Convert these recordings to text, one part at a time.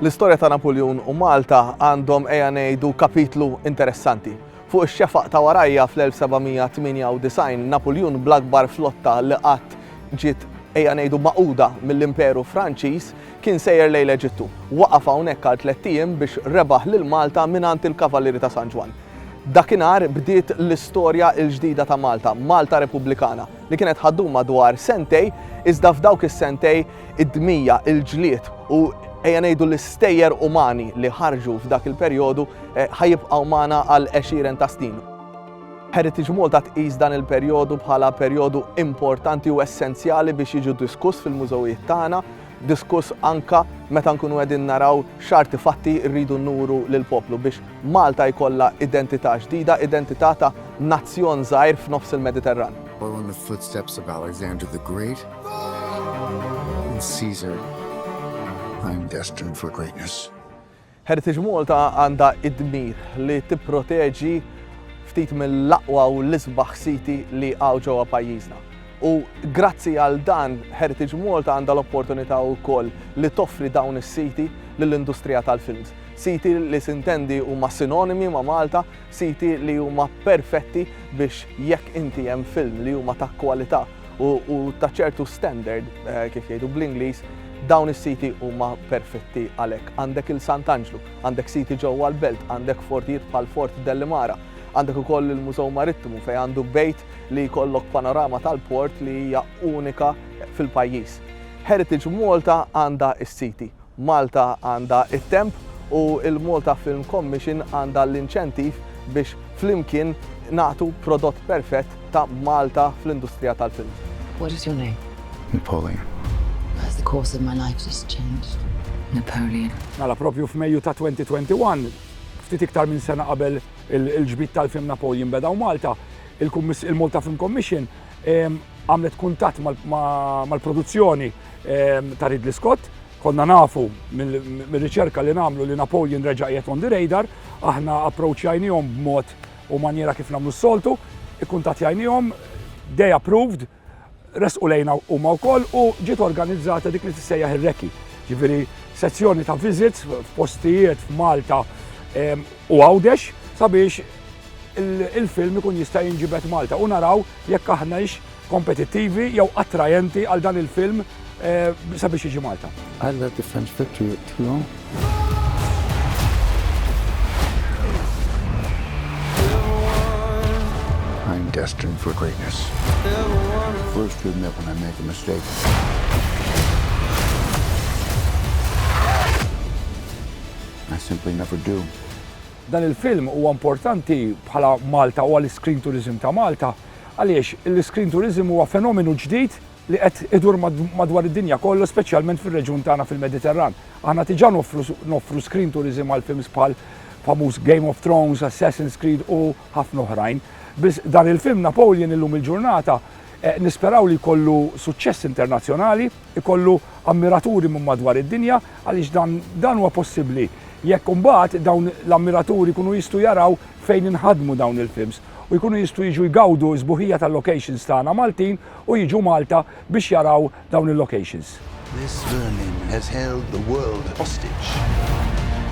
L-istorja ta' Napuljun u Malta għandhom eja ngħidu kapitlu interessanti. Fuq ix-xefaq ta' warajja fl-1798 Napuljun bl-akbar flotta li qatt ġiet eja ngħidu maquda mill-Imperu Franċiż Kien sejjer lejn l-Eġittu. Waqaf hawnhekk għal tlett ijiem biex rebaħ lil Malta mingħand il-Kavalieri ta' San Ġwann. Dakinhar bdiet l-istorja l-ġdida ta' Malta, Malta Repubblikana, li kienet ħa ddum madwar sentej, iżda f'dawk is-sentej id-dmija, il-ġlied u ejja ngħidu l-istejjer umani li ħarġu f'dak il-perjodu ħa jibqgħu magħna għal għexieren ta' snin. Heritage Malta tqis dan il-perjodu bħala perjodu importanti u essenzjali biex jiġu diskuss fil-mużewijiet tagħna. diskuss anke meta nkunu qegħdin naraw x'artifatti rridu nuru lill-poplu biex Malta jkollha identità ġdida, identità ta' nazzjon żgħir f'nofs il-Mediterran. Following the footsteps of Alexander the Great and Caesar, I am destined for greatness. Heritage Malta għandha d-dmir li tipproteġi ftit mill-aqwa u l-isbaħ siti li hawn ġewwa pajjiżna. U grazzi għal dan, Heritage Malta għandha l-opportunità wkoll li toffri dawn is-siti lill-industrija tal-films. Siti li sintendi huma sinonimi ma' Malta, siti li huma perfetti biex jekk inti hemm film li huma ta' kwalità, u ta' ċertu standard eh, kif jgħidu bl-Ingliż, dawn is-siti huma perfetti għalhekk. Għandek il Sant'Anġlu, għandek siti ġewwa l-Belt, għandek fortijiet bħal Fort Dellimara, għandek ukoll il-Mużew Marittimu fejn għandu bejt li jkollok panorama tal-port li hija unika fil-pajjiż. Heritage Malta għandha s-siti Malta għandha t-temp u l-Malta Film Commission għandha l-inċentiv biex flimkien nagħtu prodott perfett ta' Malta fl-industrija tal-film. What is your name? Napoleon. As the course of my life has changed. Napoleon. Mela propju f'Mejju ta' 2021, ftit iktar minn sena qabel il-ġbid tal-film Napoleon beda u Malta, il-Malta Film Commission għamlet kuntatt mal-produzzjoni ehm, ta' Ridley Scott, konna nafu mill-riċerka li namlu li Napoleon reġa' qiegħed on the radar, aħna approachjajnihom b'mod u manjera kif namlu s-soltu, ikkuntatjajnihom, they approved, resqu lejna huma wkoll u ġiet organizzata dik li tissejjaħ ir-reki. Ġifieri sezzjoni ta' visits f'postijiet f'Malta ehm, u għawdex sabiex il-film ikun jista' jinġibet Malta u naraw jekk aħna kompetittivi jew attrajenti għal dan il-film sabiex jiġi Malta. Alla different fitri tlu. I'm destined for greatness. First to admit when I make a mistake. I simply never do. Dan il-film huwa importanti bħala Malta u għal-screen tourism ta' Malta Għaliex, l-iscreen tourism huwa fenomenu ġdid li qed idur madwar id-dinja kollha speċjalment fir-reġjun tagħna fil-Mediterran. Aħna diġà noffru noffru screen tourism għal films bħal famuż Game of Thrones, Assassin's Creed u ħafna oħrajn. Biss dan il-film Napoleon illum il-ġurnata eh, nisperaw li jkollu suċċess internazzjonali, ikollu ammiraturi minn madwar id-dinja għaliex dan dan huwa possibbli jekk imbagħad dawn l-ammiraturi jkunu jistgħu jaraw fejn inħadmu dawn il-films. u jkunu jistgħu jiġu jgawdu s-sbuħija tal-locations tagħna Maltin u jiġu Malta biex jaraw dawn il-locations. This vermin has held the world hostage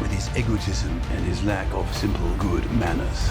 with his egotism and his lack of simple good manners.